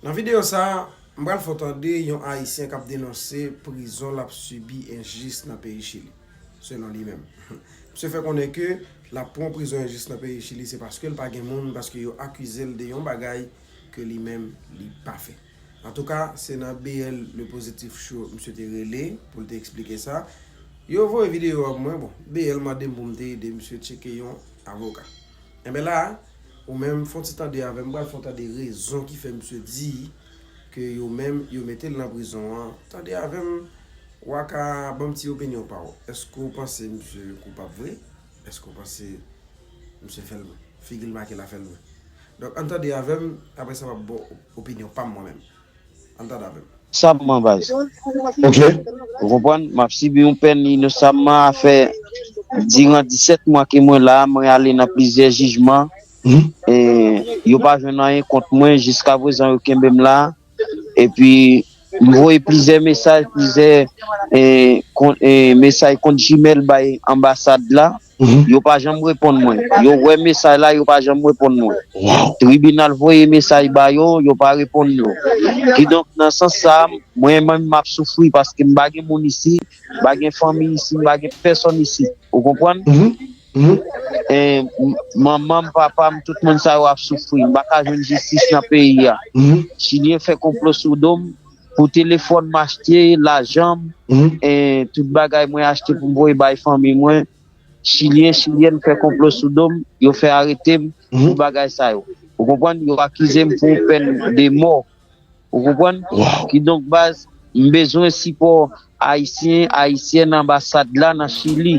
Nan videyo sa, m pral fè w tande yon Ayisyen k ap denonse prizon l ap sibi enjis nan peyi Chili. Selon li menm, misye fè konnen ke l ap pran prizon enjis nan peyi Chili se paske l pa gen moun, paske yo akize l de yon bagay ke li menm li pa fè. Antouka, se nan BL Le Positif Show misye te rele pou l te eksplike sa. Yo voye videyo a pou mwen, bon, BL mande m pou m te ede misye tcheke yon avoka. Enben la a, Ou menm fon ti tande avèm pral fon tande rezon ki fè misye di ke yo menm yo metel nan prizon an tande avèm wa ka banm ti opinyon paw eske ou panse misye koupab vre eske ou panse misye fèl figil make la fèl vre donk an tande avèm aprè sa map baw opinyon pam mwen menm. Sabman baz. Ok. Ou konprann? Map sibi yon pèn inosamman afè diran 17 mwa ke mwen la a, mwen ale nan plizyè jijman e yo pa jwenn anyen kont mwen jiskaprezan yo kenbem la a epi m voye plizyè mesaj plizyè mesaj kont Gmail bay anbasad la. Yo pa janm reponn mwen. Yo wè mesaj la, yo pa janm reponn mwen. Tribinal voye mesaj ba yo, yo pa reponn yo. Kidonk, nan sans sa a, mwen menm m ap soufri paske m pa gen moun isi, m pa gen fanmi isi, m pa gen pèsòn isi. Ou konprann? Manman m, papa m, tout moun sa yo ap soufri. M pa ka jwenn jistis nan peyi a. Chilyen fè konplo sou do m. pou telefòn m achte, lajan m, tout bagay mwen achte pou m voye bay fanmi mwen, chilyen, chilyèn fè konplo sou do m, yo fè arete m pou bagay sa yo. Ou konprann? Yo akize m pou pèn de mò. Ou konprann? Kidonk baz, m bezwen sipò Ayisyen, Ayisyèn anbasad la nan Chili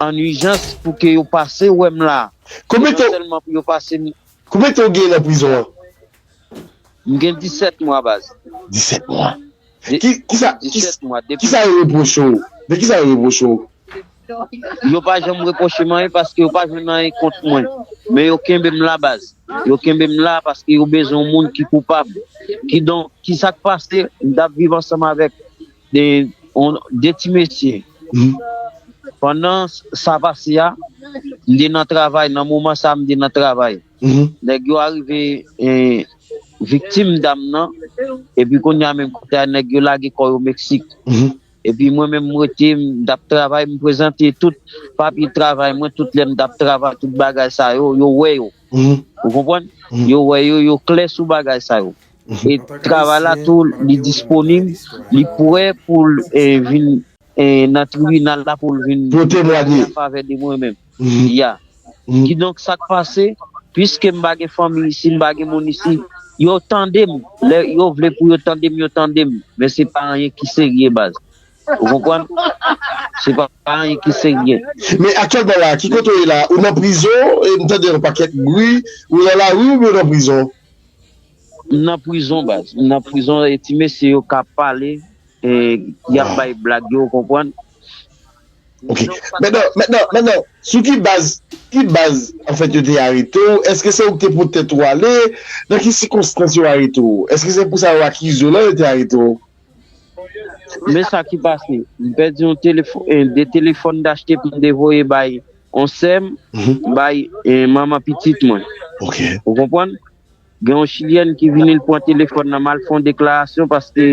an ijans pou ke yo pase wè m la. Non sèlman pou yo pase m. Konbyen tan ou genyen nan prizon an? M gen 17 mwa baz. 17 mwa? Kisa, kisa yo repwoche w? De kisa yo repwoche w? Yo pa janm repwoche m anyen paske yo pa jwenn anyen kont mwen. Men yo kenbe m la baz. Yo kenbe m la paske yo bezwen yon moun ki koupab. Kidonk, kisa k pase? M t ap viv ansanm avèk 2 ti mesye. Pandan sa pase a, m te nan travay. Nan moman sa a, m te nan travay. Nèg yo arive viktim dam nan epi kounye a menm kote a nèg yo lage kò yo Meksik epi mwen menm m rete m t ap travay m prezante tout papye travay mwen tout lè m t ap travay tout bagay sa yo yo wè yo ou konprann yo wè yo yo klè sou bagay sa yo e travay la tou li disponib li pre pou l vin. Nan tribinal la pou l vin temwanye an favè de mwen menm. Ya. Kidonk sa k pase, piske m pa gen fanmi isi, m pa gen moun isi, yo tande m. Lè yo vle pou yo tande m, yo tande m. Men se pa anyen ki serye baz. Ou konprann? Se pa anyen ki serye. Men aktyèlman la a, ki kote w ye la a? Ou nan prizon? M tande yon pakèt bri. Ou nan lari oubyen ou nan prizon? M nan prizon baz. M nan prizon e ti mesye yo ka pale. E yap bay blag yo ou konprann. Ok mètnan mètnan mètnan sou ki baz ki baz anfèt yo te arete w èske se ou ki te pot tèt ou ale nan ki sikonstans yo arete w èske se pou sa yo akize w la yo te arete w. Men sa ki pase m pèdi yon telefòn e 2 telefòn m t achte pou m te voye bay yon sè m bay manman pitit mwen ou konprann. Gen yon chilyèn ki vini l pran telefòn nan m al fè yon deklarasyon paske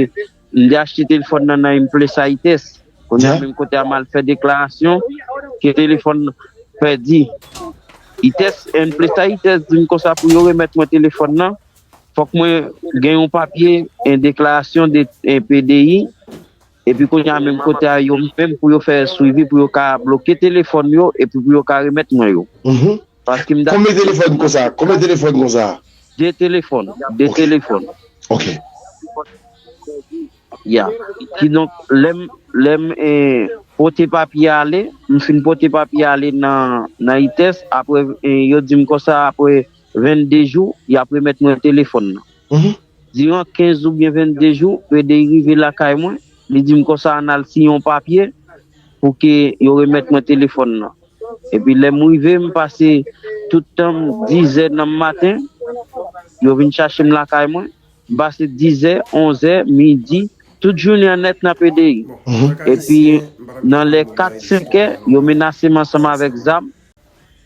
m te achte telefòn nan nan Implesaites kounye a menm kote a m al fè deklarasyon ke telefòn pèdi ites Implesaites di m konsa pou yo remèt mwen telefòn nan fòk mwen gen yon papye deklarasyon de PDI. Epi kounya menm kote a yo menm pou yo fè swivi pou yo ka bloke telefòn yo epi pou yo ka remèt mwen yo. Paskem dako Konbyen telefòn konsa? Konbyen telefòn konsa? 2 telefòn, 2 telefòn. Ok. Ya. Kidonk lèm lèm pote papye a ale, m fin pote papye a ale nan nan ITES aprè yo dim konsa aprè 22 jou yap remèt mwen telefòn nan. Diran 15 oubyen 22 jou, Fredey rive lakay mwen, li di m konsa ann al siyen yon papye pou ke yo remèt mwen telefòn nan. Epi lè m rive, m pase tout tan m, dizè nan maten, yo vin chache m lakay mwen, m pase dizè, onzè, midi, tout jounen an nèt nan Pdi, epi nan lè kat, senkè, yo menase m ansanm avèk zam.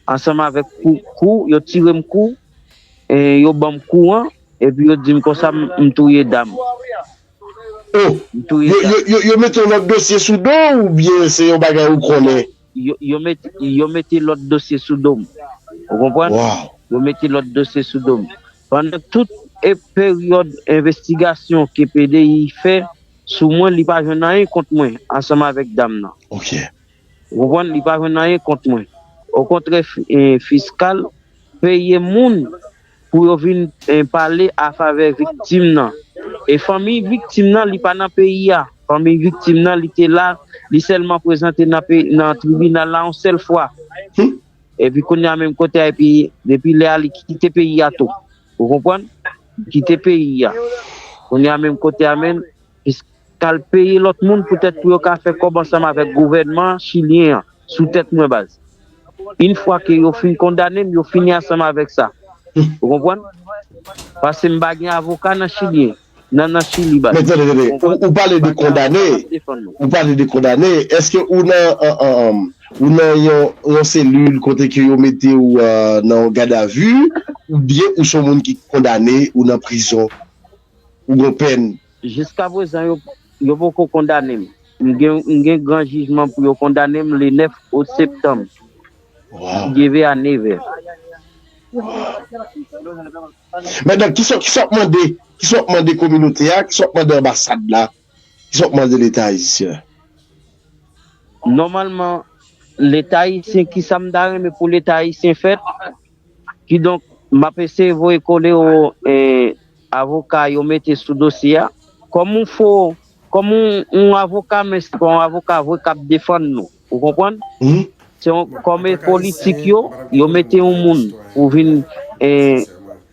ansanm avèk kou kou yo tirem kou e yo banm kou an epi yo dim konsa m touye dam oh yo mete yon lòt dosye sou do w ou byen se yon bagay ou konnen yo mete lòt dosye sou do m ou konprann yo mete lòt dosye sou do m pandan tout peryòd envestigasyon ke pdi fè sou mwen li pa jwenn anyen kont mwen ansanm avèk dam nan Ou konprann li pa jwenn anyen kont mwen. Okontrè fiskal peye moun pou yo vin pale a favè viktim nan. E fanmiy viktim nan li pa nan peyi a. Fanmiy viktim nan li te la, li sèlman prezante nan tribinal la yon sèl fwa. Epi kounye a menm kote a epi depi lè a li kite peyi a tou. Ou konprann? Li kite peyi a. Kounye a menm kote a menm. Jiska al peye lòt moun poutèt pou yo ka fè kòb ansanm avèk gouvènman chilyen an sou tèt mwen baz. Yn fwa ke yo fin kondanem yo fini ansanm avèk sa ou konprann? Pase m pa gen avoka nan chili nan nan chili baz. Men tande tande, ou pale de kondane, ou pale de kondane, eske ou nan ou nan yon selil kote ke yo mete ou nan yon gadavi oubyen ou son moun ki kondane ou nan prizon? ou gon pèn. Jiskaprezan yo poko kondane m. M gen gran jijman pou yo kondane m le 9 out septanm geve a nevè. Waw! Madan kisa wap mande kisa wap mande kominote a kisa wap mande anbasad la? Kisa w ap mande leta ayisyen? Nòmalman leta ayisyen kisa m ta renmen pou leta ayisyen fè? Kidonk m ap eseye voye kole o avoka yo mete sou dosye a kòm yon avoka men se pa yon avoka vre k ap defann nou. Ou konprann? Se yon kòm politik yo, yo mete yon moun pou vin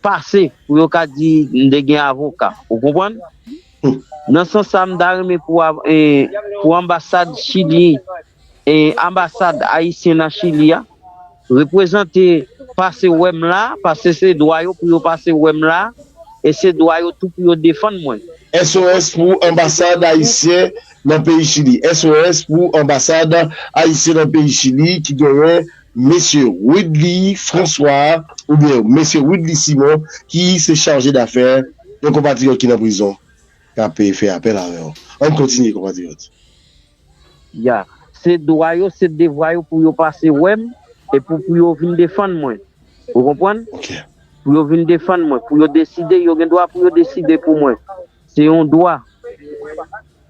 pase pou yo ka di m te gen avoka. Ou konprann? Nan sans sa m ta renmen pou anbasad chilyen, anbasad ayisyen nan chili a. Reprezante pase wè m la, pase se dwa yo pou yo pase wè m la e se dwa yo tou pou yo defann mwen. SOS pou Anbasad Ayisyen nan peyi Chili SOS pou Anbasad Ayisyen nan peyi Chili ki genyen Mesye Widly François oubyen Mesye Widly Simon ki se Chaje dafè yon konpatriyòt ki nan prizon k ape fè apèl avè w. An n kontinye konpatriyòt. Ya. Se dwa yo, se devwa yo pou yo pase wè m e pou pou yo vin defann mwen. Ou konprann? Ok. Pou yo vin defann mwen, pou yo deside, yo gen dwa pou yo deside pou mwen. Se yon dwa.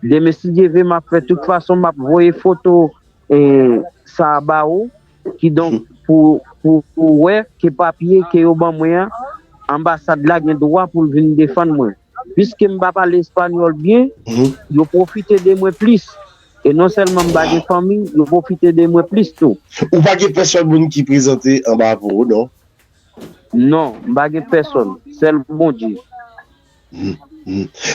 Demen si Dye ve m ap fè tout fason m ap voye foto sa a ba ou, kidonk pou ou wè ke papye ke yo ban mwen an, anbasad la gen dwa pou l vin defann mwen. Piske m pa pale espanyòl byen, yo pwofite de mwen plis. E non sèlman m pa gen fanmi, yo pwofite de mwen plis tou. Ou pa gen pèsòn moun ki prezante anba pou ou, non? Non, m pa gen pèsòn. Sèl Bondye.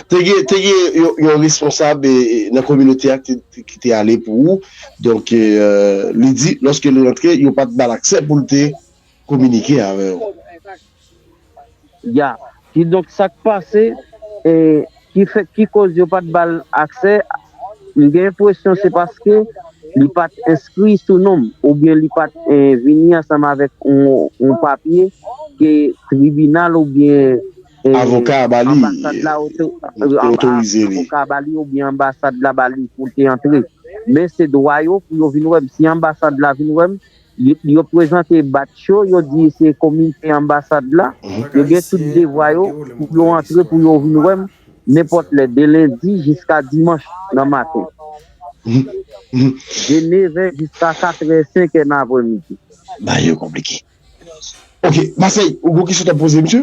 Te gen, te gen yon responsab nan kominote a ki te ale pou ou. Donk, li di, lòske l rantre, yo pa t ba l aksè pou l te kominike avè ou. Ya. Kidonk sa k pase e ki fè ki koz yo pat ba l aksè m gen enpresyon se paske li pat enskri sou non m oubyen li pat vini ansanm avèk yon papye ke tribinal oubyen Avoka a ba li Avoka a ba li oubyen anbasad la ba li pou l te antre men se dwa yo pou yo vin wè m si anbasad la vin wè m Yo prezante badj yo, yo di se komite anbasad la. Yo gen tout devwa yo pou yo antre pou yo vin wè m nenpòt lè de lendi jiska dimanch nan maten. De nevè jiska katrè, senkè nan apremidi. Bagay yo konplike. Ok, Masèy, ou gen yon kesyon w t ap poze msye?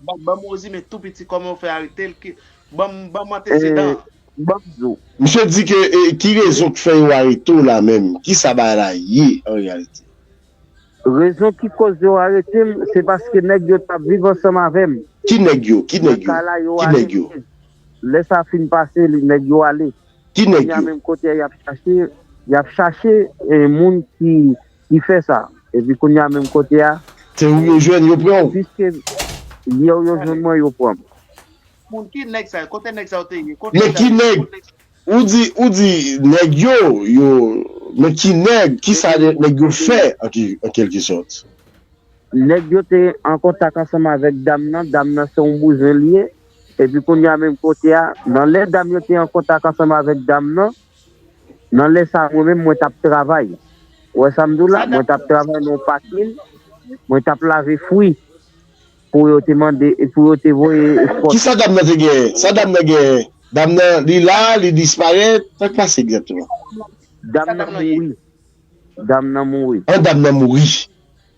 Banm banm Rosie men tou piti koman yo fè aretel ki banm banm antesedan an. E banm di w. Misye di ke e ki rezon k fè yo arete w la menm? Kisa bagay la ye an reyalite? Rezon ki koz yo arete m se paske nèg yo tap viv ansanm avè m. Ki nèg yo? Ki Nan nèg yo? kay la yo Ki nèg yo? arete. Lè sa fin pase li nèg yo ale. Ki nèg Kounya yo? menm kote a yap chache yap chache e moun ki Ki fè sa? Epi kounye a menm kote a. Se ou yo jwenn, yo pran ou. Piske m ye ou yo jwenn mwen, yo pran m. Moun, ki nèg sa yo? Kote nèg sa yo te ye? Kote nèg sa yo te ye? Men ki nèg? Ou di, ou di nèg yo, yo. Men ki nèg? Ki sa nèg yo fè an kèlke sòt? Nèg yo te an kontak ansanm avèk dam nan, dam nan se yon bouzen li ye. Epi kounye a menm kote a, nan lè dam yo te an kontak ansanm avèk dam nan. Nan lè sa mwen menm mwen tap travay ou wè sam di w la mwen tap travay nan yon pakin mwen tap lave fwi pou yo te mande pou yo te voye espò. Kisa dam nan te genyen? Sa dam nan genyen? Dam nan li la, li disparèt, sak pase egzakteman? Dam nan mouri. Dam nan mouri. An dam nan mouri.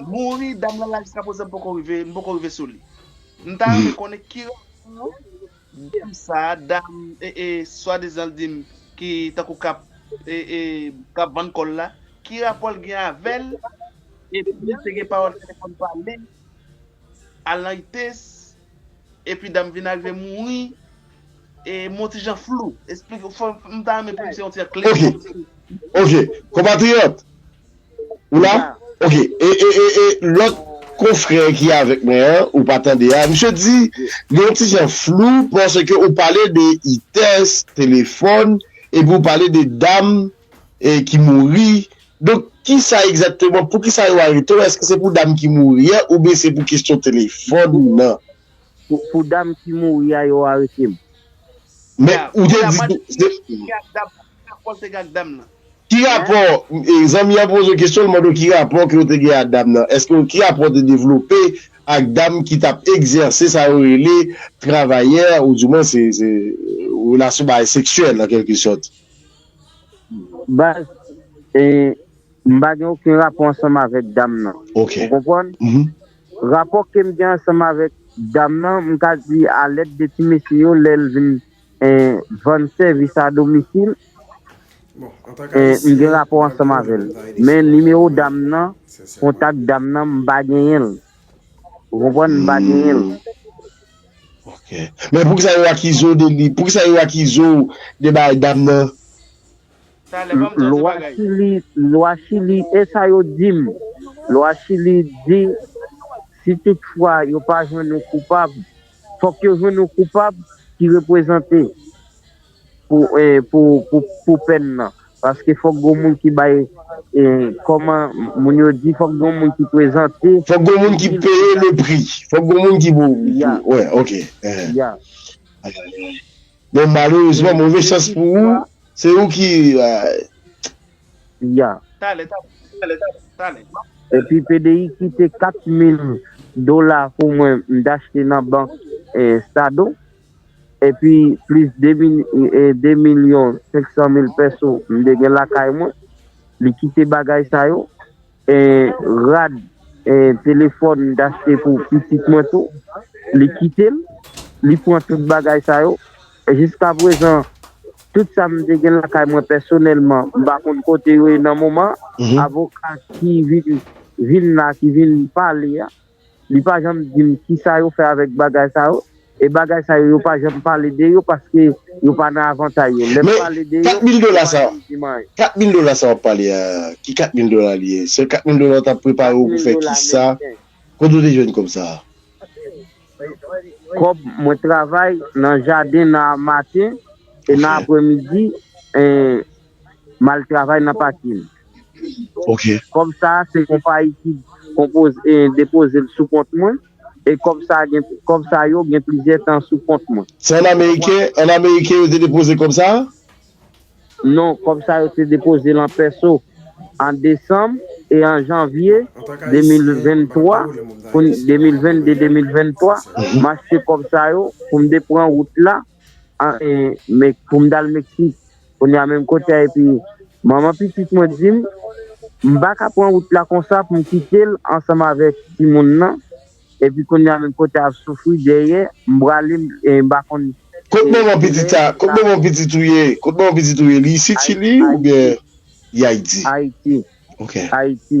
Mouri dam lan la jiska prezan m poko rive m poko rive sou li. M ta renmen konnen ki rason dam sa dam swadizan l di m ki tankou kap kap vann kò l la ki rapò l gen avè l epi te gen pawòl ki te konn pale a Laites epi dam vin arive mouri e m yon ti jan flou esplike m ta renmen pou m se yon ti jan klè. Ok ok konpatriyòt Ou la? Ok. E, e, e, e lòt konfrè ki avèk mwen an, ou pa tande a, misye di li yon ti jan flou paske ou pale de itès, telefòn, epi ou pale de dam e ki mouri. Donk, ki sa egzakteman, pou ki sa yo arete w? Èske se pou dam ki mouri an oubyen se pou kesyon telefòn nan? Pou dam ki mouri a yo arete m. Men ou te di tou se. Ki rapò, zanmi an poze w kesyon li mande w ki rapò ke w te gen ak dam nan. Eske ki rapò w te devlope ak dam ki t ap egzèse sa yo rele travayè ou di mwen se relasyon bagay seksyèl an kèlke sòt. Baz, m pa gen oken rapò ansanm avèk dam nan. Ou konprann? Rapò kem gen ansanm avèk dam nan m ka di a lèd de ti mesye yo lèl vin vann sèvis a domisil m gen rapò ansanm avèl men nimewo dam nan kontak dam nan m pa genyenl ou konprann m pa genyenl. Ok men poukisa yo akizew de li poukisa yo akizew de bagay dam nan. Lwa chili lwa chili esa yo dim lwa chili di si tout fwa yo pa jwenn ou koupab fok yo jwenn ou koupab ki reprezante pou pèn nan paske fok gon moun ki bay koman moun yo di fok gon moun ki prezante fok gon moun ki peye le pri fok gon moun ki pou ya ya. Bon malerezman move chans pou ou se ou ki ay. Ya. Talè talè talè. Epi pdi kite 4 mil dola pou mwen m t achte nan bank estado epi plis 2 mil 2 milyon 500 mil pèso m t gen lakay mwen li kite bagay sa yo Rad telefòn m t achte pou pitit mwen tou li kite m li pran tout bagay sa yo jiskaprezan tout sa m te gen lakay mwen pèsonèlman m pa konn kote yo ye nan moman avoka ki vin la ki vin pale a. li pa janm dim kisa yo fè avèk bagay sa yo e bagay sa yo yo pa janm pale de yo paske yo pa nan avantay yo lèm pale de yo yo pa janm dim anyen. Men 4 mil dola sa wap pale a ki 4 mil dola li ye se 4 mil dola yo tap prepare ou pou fè kisa kote ou te jwenn kòb sa. Kòb mwen travay nan jaden nan maten e nan aprè midi. m al travay nan pakin. Kòb sa a se konpayi ki depoze l sou kont mwen e kòb sa yo gen plizyè tan sou kont mwen. Se an ameriken yo te depoze kòb sa a? Non, kòb sa yo te depoze l an pèso an desanm e an janvye 2023, 2022-2023, m achte kòb sa yo pou m te pran wout la pou m t al Meksik. Kounya menm kote a epi manman pitit mwen di m m pa ka pran wout la konsa pou m kite l ansanm avèk timoun nan epi kounya menm kote a ap soufri dèyè m prale m pa konn Kot manman pitit a? Kot manman pitit ou ye? Kot manman pitit ou ye? Li isit chili oubyen li ayiti? Ayiti. Ok. Ayiti.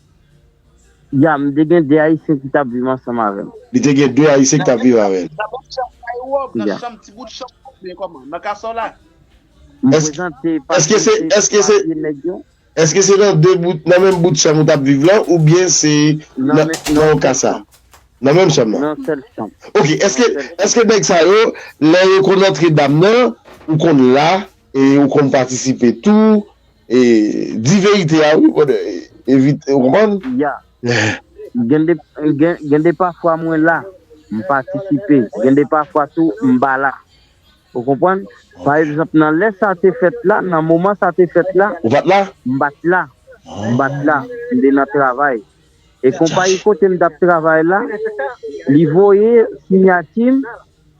Ya, m te gen de Ayisyen ki t ap viv ansanm avè m. Li te gen de Ayisyen ki t ap viv avè l. Nan menm chanm kay ou an, nan chanm ti bout chanm ou byen kòman? Nan kason la? M prezante papye se papye nèg yo. Èske se nan de bout, nan menm bout chanm ou t ap viv lan oubyen se nan yon kasa? Nan menm chanm nan? Nan yon sèl chanm. Ok, èske nèg sa yo, lè yo konn antre dam nan, ou konn la e ou konn patisipe tou? E di verite a wi brother evite ou konprann. Yeah gen de pafwa mwen la m patisipe gen de pafwa tou m pa la ou konprann pa egzanp nan lè sa te fèt la nan moman sa te fèt la ou pat la m pat la m pat la m te nan travay e konpayi kote m tap travay la li voye sinyati m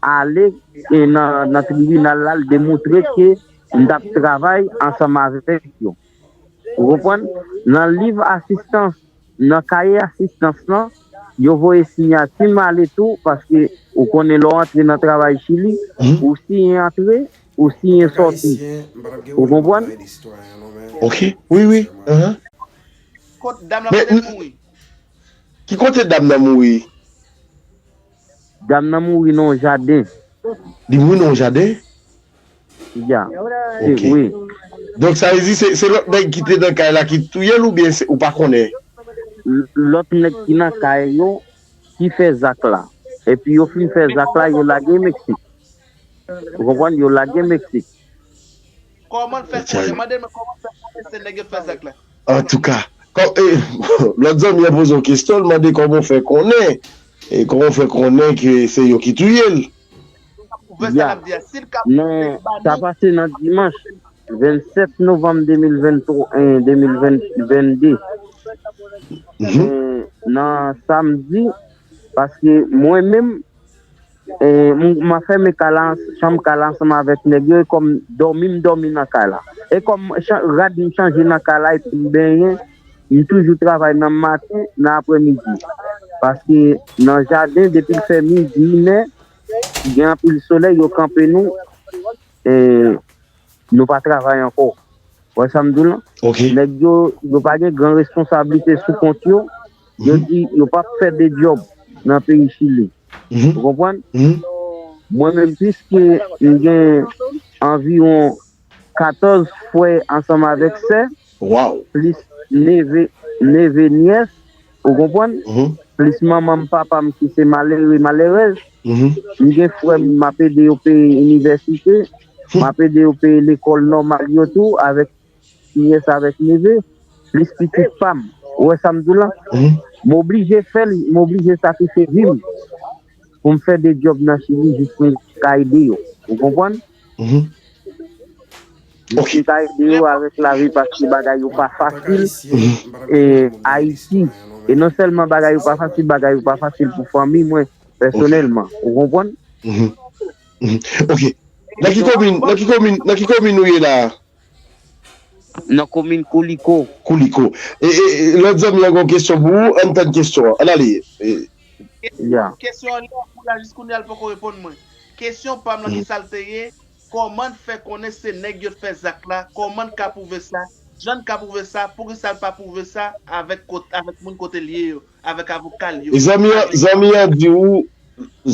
ale nan tribinal la l demontre ke m t ap travay ansanm avèk yo. Ou konprann? Nan liv asistans, nan kaye asistans lan, yo voye siyati m ale tou paske ou konnen lè w antre nan travay Chili, ou siyen antre, ou siyen sòti. Ou konprann? Ok. Wi, wi. Ahan. Kot dam lan kote l mouri? Ki kote dam nan mouri? Dam nan mouri nan yon jaden. Li mouri nan yon jaden? Ya. Ok. Donk sa vle di se lòt nèg ki te nan kay la ki touye l oubyen ou pa konnen? Lòt nèg ki nan kay yo ki fè zak la. Epi yo fin fè zak la yo lage Meksik. Ou konprann? Yo lage Meksik. Kòman l fè konnen? Mande l men kòman l fè konnen se nèg yo t fè zak la? Antouka, lòt zanmi an poze yon kesyon, l mande kòman w fè konnen? Kòman w fè konnen ke se yo ki touye l? Ya, men sa pase nan dimanch 27 novanm 2022, men nan samdi, paske mwen menm. Mwen fèmen kay la, chanm kay la ansanm avèk nèg yo e kòm dòmi m dòmi nan kay la. E kòm rad m chanje nan kay la epi m benyen, m toujou travay nan maten, nan aprè midi. Paske nan jaden depi l fè midi, inè, gen anpil solèy yo kanpe nou. Nou pa travay ankò. Ou wè sa m di w lan? Nèg yo, yo pa gen gran responsablite sou kont yo. Yo di yo pa p fè de djòb nan peyi Chili. Ou konprann? Mwen menm, piske m gen anviwon 14 frè ansanm avèk sè, plis neve, neve, nyès, Ou konprann? Plis manman m, papa m ki se malere, malerèz. M gen frè m, m ap ede yo peye inivèsite. M ap ede yo peye lekòl nòmal yo tou avèk nyès, avèk neve. Plis pitit pa m. Ou wè sa m di w la? M oblije fè l, m oblije sakrifye vi m. pou m fè de djòb nan chili jis pou m ka ede yo ou konprann jis pou m ka ede yo avèk lavi paske bagay yo pa fasil e ayiti e non sèlman bagay yo pa fasil bagay yo pa fasil pou fanmi mwen pèsonèlman ou konprann ok nan ki komin nan ki komin ou ye la a. Nan komin Kouliko. Kouliko. E, e, lòt zanmi an gen yon kesyon pou ou, ann tann kesyon an. Ann ale. Ya. Kesyon an lè pou la jiskounyea l poko reponn mwen. Kesyon pam lan kisa l te ye, kòman n fè konnen se nèg yo t fè zak la, kòman n ka pwouve sa, jan n ka pwouve sa, poukisa l pa pwouve sa avèk kot avèk moun kote l ye yo, avèk avoka l yo, avèk. Zanmi an, zanmi an di ou.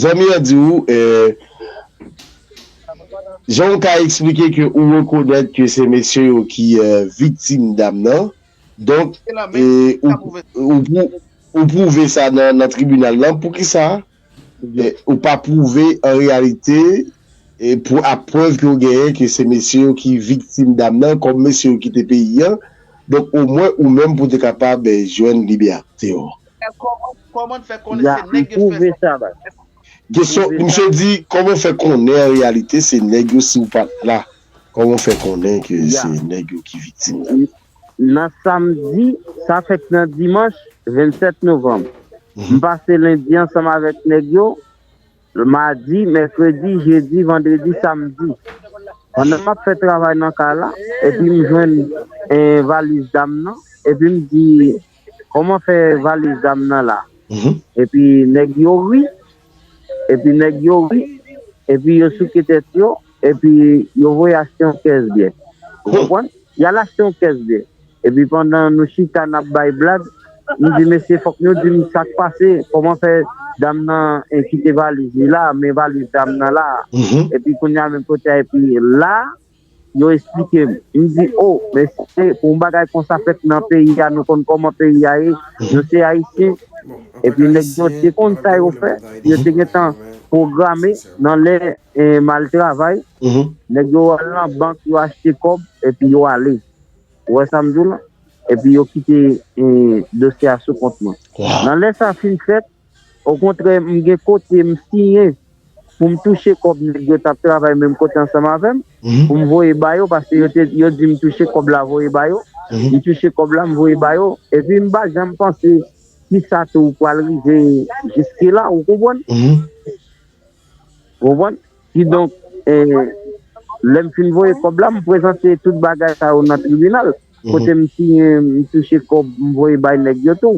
Zanmi an di ou e Jan ou ka eksplike ke ou rekonèt ke se mesye yo ki viktim dam nan donk e ou pwouve sa nan tribinal lan poukisa ou pa pwouve an reyalite ak prèv ke ou genyen ke se mesye yo ki viktim dam nan kòm mesye yo kite peyi an donk omwen ou menm pou te kapab jwenn libète ou. Koman n fè konnen se nèg yo fè sa? Kesyon, Misye di, koman w fè konnen an reyalite se nèg yo si w pa t la? Koman w fè konnen ke se nèg yo ki viktim la? Nan samdi, sa fèk nan dimanch, 27 novanm. M pase lendi ansanm avèk nèg yo, madi, mèkredi, jedi, vandredi, samdi. Pandan m ap fè travay nan kay la, epi m jwenn valiz dam nan, epi m di Koman fè valiz dam nan la. Epi nèg yo ri Epi nèg yo ri Epi yo souke tèt yo Epi yo voye achte yon kès byè Ou konprann Y'al achte yon kès byè Epi pandan nou chita n'ap bay blag Nou di mesye fòk nou di m sak pase Koman fè dam nan kite valiz li la Men valiz dam nan la Epi kounya menm kote a Epi la Yo esplike m. M di, o, men si se pou yon bagay konsa fèt nan peyi a, nou konn kòman peyi a ye, nou se Ayisyen, epi nèg yo te konn sa yo fè, si yo te gen tan pwograme nan lè m al travay, nèg yo al nan bank, yo achte kòb, epi yo ale. Ou wè sa m di w la? Epi yo kite dosye a sou kont mwen. Nan lè sa fin fèt, Okontrè m gen kote m siyen pou m touche kòb nèg yo t ap travay menm kote ansanm avè m pou m voye ba yo paske yo di m touche kòb la voye ba yo m touche kòb la m voye ba yo epi m pa janm panse ki sa tou pral rive jiskela ou konprann konprann kidonk lè m fin voye kòb la m prezante tout bagay sa yo nan tribinal kote m siyen m touche kòb m voye bay nèg yo tou.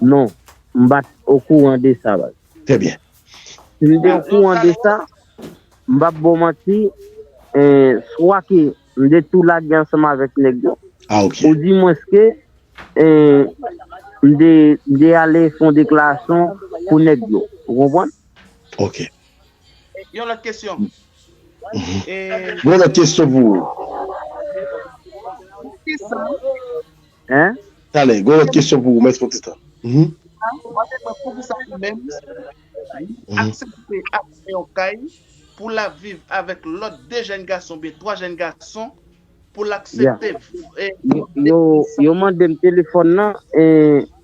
Non, m pa t okouran de sa baz. Trè byen. Si m te okouran de sa, m pa p ba w manti, swa ke m te tou lage ansanm avèk nèg yo, ou di mwens ke m te ale fè yon deklarasyon pou nèg yo. Ou konprann? Ok. Yon lòt kesyon. Mwen gen yon lòt kesyon pou ou. Poukisa Hein? Talè, gen yon lòt kesyon pou ou, mèsi pou ti tan. Hum. Jan, ou pa te kwè poukisa li menm, li, aksepte al nan yon kay pou l al viv avèk lòt 2 jèn gason oubyen 3 jèn gason pou l aksepte e Yo, yo mande m telefòn nan e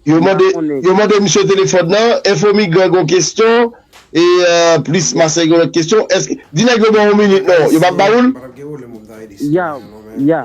Yo mande, yo mande misye telefòn nan, Enfo Migran gen yon kesyon e Plis Masay gen yon lòt kesyon, èske, di nèg yo ban ou minit non, yo p ap ba ou l? Ya, ya.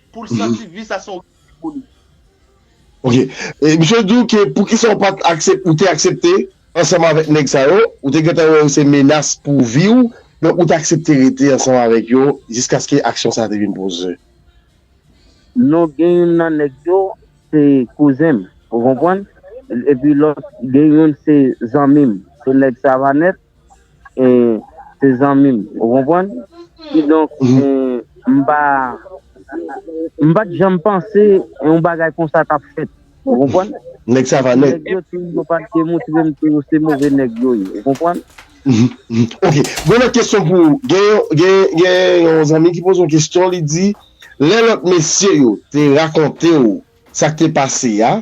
Poul santi vi sa se yon rèv pou li. Ok. E misye di w ke poukisa ou pat aksepte, ou te aksepte ansanm avèk nèg sa yo, ou te gentan wè yo se menas pou vi w, donk ou t aksepte rete ansanm avèk yo jiskaske aksyon sa te vin poze. Non gen youn nan nèg yo se kouzen m, ou konprann? Epi lòt gen youn se zanmi m, se nèg Savanèt. e se zanmi m ou konprann kidonk m pa m pat janm panse yon bagay konsa tap fèt ou konprann nèg sa va nèt yo pat demontre m ke yo se move nèg yo ye ou konprann ok gon lòt kesyon pou ou gen gen yon zanmi ki poze yon kesyon li di lè lòt mesye yo te rakonte w Sak te pase a?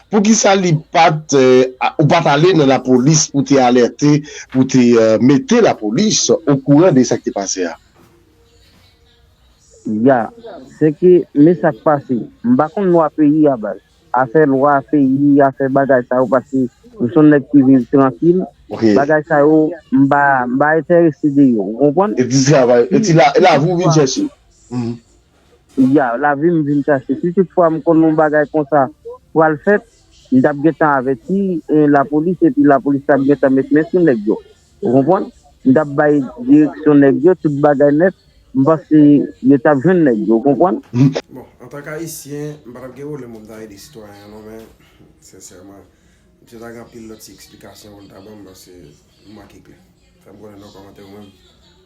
Poukisa li pat ou pat ale nan lapolis pou te alerte pou te mete lapolis okouran de sak te pase a? Ya, se ke men sak pase. M pa konn lwa peyi a baz. Afè lwa peyi, afè bagay sa yo paske m son nèg ki viv trankil, bagay sa yo m pa enterese de yo ou konprann? Eti travay, eti lavi ou vin chèche. Ya, lavi m vin chache. Si tout fwa m konn yon bagay konsa pral fèt, m t ap gentan avèti lapolis epi lapolis t ap gentan met men sou nèg yo. Ou konprann? M t ap bay direksyon nèg yo, tout bagay nèt. M panse yo t ap jwenn nèg yo. Ou konprann? Bon, antank Ayisyen, m pa t ap gen pwoblèm pou m ta ede sitwayen an non, men, sensèman, misye ta gen anpil lòt ti eksplikasyon pou l ta ban m paske m manke klè. Fè m konnen nan kòmantè ou menm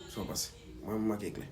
sa w panse. Mwen, m manke klè.